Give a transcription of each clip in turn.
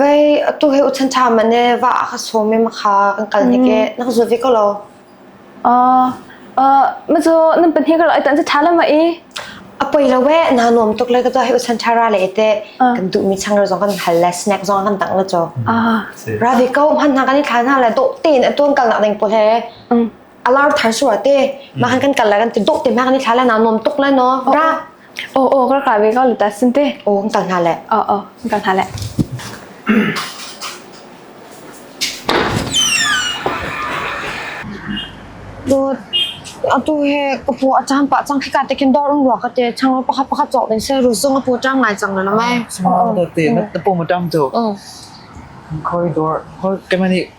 Vei atu he u chan ṭha ma ne va a ka sawm i makha kan kal ni ke na ka zul ve ko lo. Mazu nan pahnih ka lo ai tan cu ṭha la ma i. A poi lo we na nuam tuk le ka tu he u chan ṭha ra le te kan duh mi chang ro zong kan hal le snack zong kan tang la chaw. Ra ve ko hman na kan i thlan ha le do te na tuan kal nak ding po he. a lar than su ate ma han kan kal la kan ti dok te ma kan ni thla la na nom tuk la no ra o o ka ka ve ka lu ta sin te o kan kal na le o o kan na le do atu he ka pu acham pa chang khika te kin dor un ro ka te chang pa kha pa chok den se ru zong pu chang ngai chang na mai small te na po mu tam to khoi dor khoi temani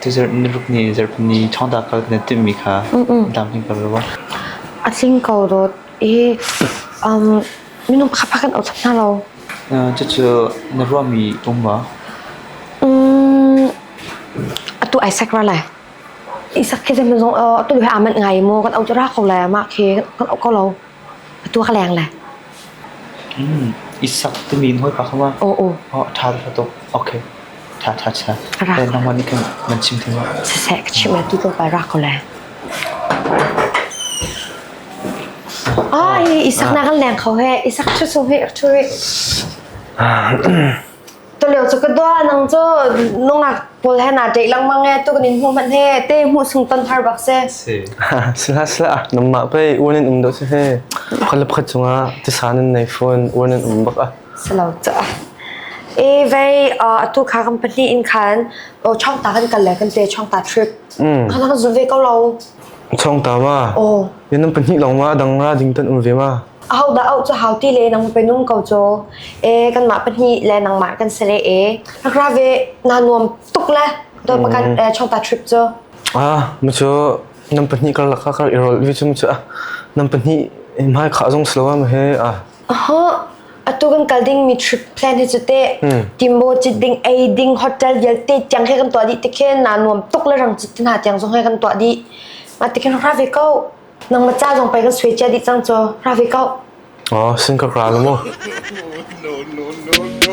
Dessert na ruk nih zarhpini thawngtha kha na timhmi kha tlamtling ko rua. A tling ko dawt. Hi minung khapha kan othap hna lo. Cucu na ruahmi um maw? Atu ai sak ra lai. Isak khi zem zong atu duhe aman ngai mu kan autura ko lai amah khi kan au ko lo. I sak timi in hawipa kha ma? A ṭha tuk, ṭha tuk. Okay. Ṭha, ṭha, ṭha. Nangmah nih khin nan chim theng ma? Sasai, ka chim ati ko pa rak ko le. Ai, isak na kan leng kho he. Isak chu so he, chu he. Tulio cu ka dua nang cu nungak pawl he naa ṭeih lengmang e tu kan in hmu hmanh he te hmu sung ton thar bak se. Si. Sila sila nangmah pei uan in um dawh si he kala khat chungah tisan in nei phun uan in um bak ah. Selo ca. E vei atu kha kan pahnih in khan chong ta kan kal le kan te chong ta trip. Kan han zu ve ko lo. Chong ta ma. Oh. Yan pahnih long ma dang ra ding tan um ve ma. Ahodah auh cu hau ti le nang pe nung ko caw. E kanmah pahnih le nangmah kan se le e. Nakra ve na nuam tuk le doi pakan eh, chongta trip cu. Ah, mu cu nam pahnih kar laka kar irol vi cu mu cu ah nam pahnih mai kha zong slowa ma he ah. Aha, atu kan kal ding mi trip plan hi cu te. Timbo chit ding ei ding hotel yal te tiang he kan tua di te khe na nuam tuk le rang chit tin ha tiang zong he kan tua di. Ma te kan ra ve ko. Nang maca zong pei kan sui cia dih cang caw. Ra ve kau. Oh, sin ka ra mu. No, no, no, no.